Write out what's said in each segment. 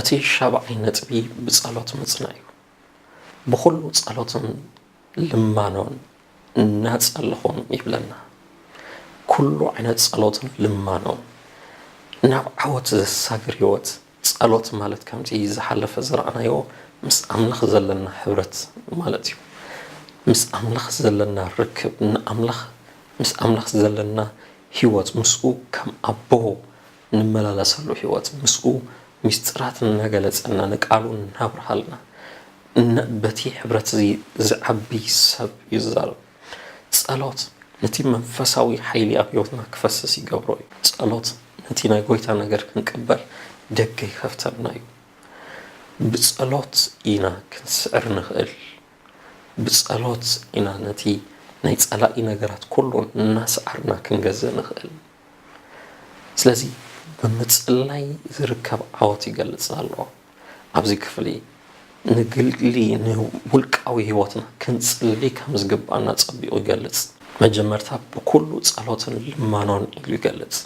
እቲ ሻብዓይ ነጥቢ ብጸሎት ምጽናዕ እዩ። ብኹሉ ጸሎትን ልማኖን እናጸለኹም ይብለና። ኩሉ ዓይነት ጸሎትን ልማኖን ናብ ዓወት ዘሳግር ህይወት ጸሎት ማለት ከምቲ ዝሓለፈ ዝረኣናዮ ምስ ኣምላኽ ዘለና ሕብረት ማለት እዩ። ምስ ኣምላኽ ዘለና ርክብ ንኣምላኽ ምስ ኣምላኽ ዘለና ህይወት ምስኡ ከም ኣቦ ንመላለሰሉ ሕይወት ምስኡ ምስጢራት እናገለጸና ንቃሉ እናብርሃልና እነ በቲ ሕብረት እዚ ዝዓቢ ሰብ እዩ ዝዛረብ። ጸሎት ነቲ መንፈሳዊ ሓይሊ ኣብ ሕይወትና ክፈስስ ይገብሮ እዩ። ጸሎት ነቲ ናይ ጐይታ ነገር ክንቅበል ደገ ይኸፍተልና እዩ። ብጸሎት ኢና ክንስዕር ንኽእል። ብጸሎት ኢና ነቲ ናይ ጸላኢ ነገራት ኩሉ እናሰዓርና ክንገዝእ ንኽእል። ስለዚ ብምጽላይ ዝርከብ ዓወት ይገልጽ ኣሎ። ኣብዚ ክፍሊ ንግሊ ንውልቃዊ ህይወትና ክንጽሊ ከም ዝግብኣና ኣጸቢቑ ይገልጽ። መጀመርታ ብኩሉ ጸሎትን ልማኖን ኢሉ ይገልጽ።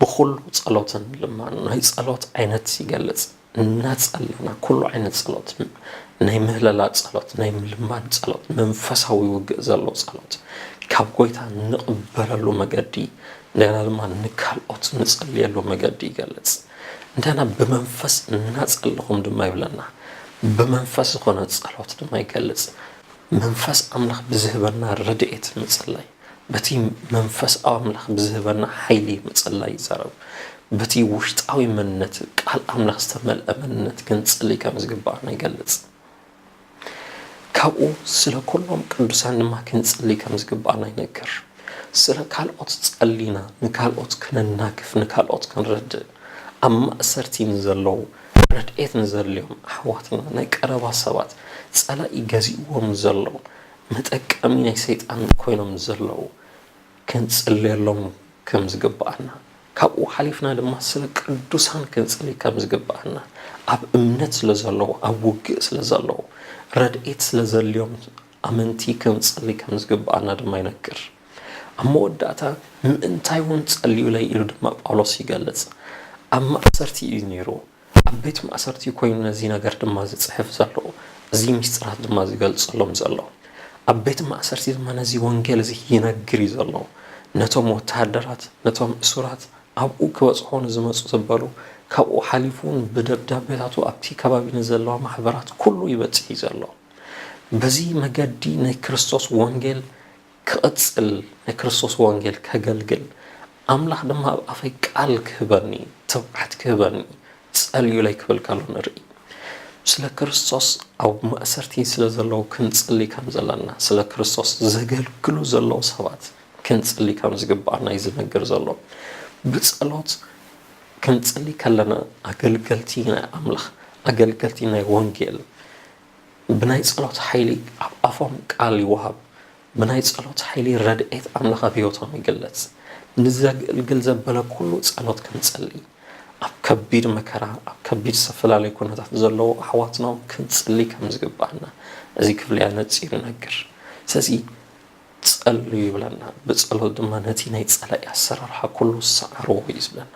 ብኩሉ ጸሎትን ልማኖን ናይ ጸሎት ዓይነት ይገልጽ። እናጸለና ኩሉ ዓይነት ጸሎት ናይ ምህለላ ጸሎት ናይ ምልማን ጸሎት መንፈሳዊ ውግእ ዘሎ ጸሎት ካብ ጎይታ ንቕበለሉ መገዲ እንደገና ድማ ንካልኦት ንጸልየሉ መገዲ ይገልጽ እንደገና ብመንፈስ እናጸለኹም ድማ ይብለና ብመንፈስ ዝኾነ ጸሎት ድማ ይገልጽ መንፈስ ኣምላኽ ብዝህበና ረድኤት ምጽላይ በቲ መንፈስ ኣምላኽ ብዝህበና ሓይሊ ምጽላይ ይዛረብ። በቲ ውሽጣዊ መንነት ቃል ኣምላኽ ዝተመልአ መንነት ክንጽሊ ከም ዝግብኣና ይገልጽ። ካብኡ ስለ ኩሎም ቅዱሳን ድማ ክንጽሊ ከም ዝግብኣና ይነግር። ስለ ካልኦት ጸሊና ንካልኦት ክነናግፍ ንካልኦት ክንረድእ ኣብ ማእሰርቲ ንዘለዉ ረድኤት ንዘድልዮም ኣሕዋትና ናይ ቀረባ ሰባት ጸላኢ ገዚእዎም ንዘሎ መጠቀሚ ናይ ሰይጣን ኮይኖም ዘለው ክንጽልየሎም ከም ዝግብኣና ካብኡ ሓሊፍና ድማ ስለ ቅዱሳን ክንጽሊ ከም ዝግብኣና ኣብ እምነት ስለ ዘለው ኣብ ውግእ ስለ ዘለው ረድኤት ስለ ዘድልዮም ኣመንቲ ክንጽሊ ከም ዝግብኣና ድማ ይነግር። ኣብ መወዳእታ ምእንታይውን ጸልዩለይ ኢሉ ድማ ጳውሎስ ይገልጽ። ኣብ ማእሰርቲ እዩ ነይሩ። ኣብ ቤት ማእሰርቲ'ዩ ኮይኑ ነዚ ነገር ድማ ዝጽሕፍ ዘሎ፣ እዚ ምስጢራት ድማ ዝገልጸሎም ዘሎ። ኣብ ቤት ማእሰርቲ ድማ ነዚ ወንጌል እዚ ይነግር'ዩ ዘሎ። ነቶም ወተሃደራት፣ ነቶም እሱራት፣ ኣብኡ ክበጽሖ ንዝመጹ ዘበሉ፣ ካብኡ ሓሊፉ'ውን ብደብዳቤታቱ ኣብቲ ከባቢ ንዘለዋ ማሕበራት ኩሉ ይበጽሕ'ዩ ዘሎ። በዚ መገዲ ናይ ክርስቶስ ወንጌል ክቕጽል ናይ ክርስቶስ ወንጌል ከገልግል ኣምላኽ ድማ ኣብ ኣፈይ ቃል ክህበኒ ትብዓት ክህበኒ ጸልዩለይ ክብል ከሎ ንርኢ። ስለ ክርስቶስ ኣብ ማእሰርቲ ስለ ዘለዉ ክንጽሊ ከም ዘለና ስለ ክርስቶስ ዘገልግሉ ዘለዉ ሰባት ክንጽሊ ከም ዝግብኣና እዩ ዝነግር ዘሎ። ብጸሎት ክንጽሊ ከለና ኣገልገልቲ ናይ ኣምላኽ ኣገልገልቲ ናይ ወንጌል ብናይ ጸሎት ሓይሊ ኣብ ኣፎም ቃል ይወሃብ፣ ብናይ ጸሎት ሓይሊ ረድኤት ኣምላኽ ኣብ ሕይወቶም ይግለጽ። ንዘግእልግል ዘበለ ኩሉ ጸሎት ክንጸሊ፣ ኣብ ከቢድ መከራ ኣብ ከቢድ ዝተፈላለየ ኩነታት ዘለዉ ኣሕዋትናውን ክንጽሊ ከም ዝግብኣና እዚ ክፍሊ ኣነጺሩ ይነግር። ስለዚ ጸልዩ ይብለና፣ ብጸሎት ድማ ነቲ ናይ ጸላኢ ኣሰራርሓ ኩሉ ሰዓርዎ እዩ ዝብለና።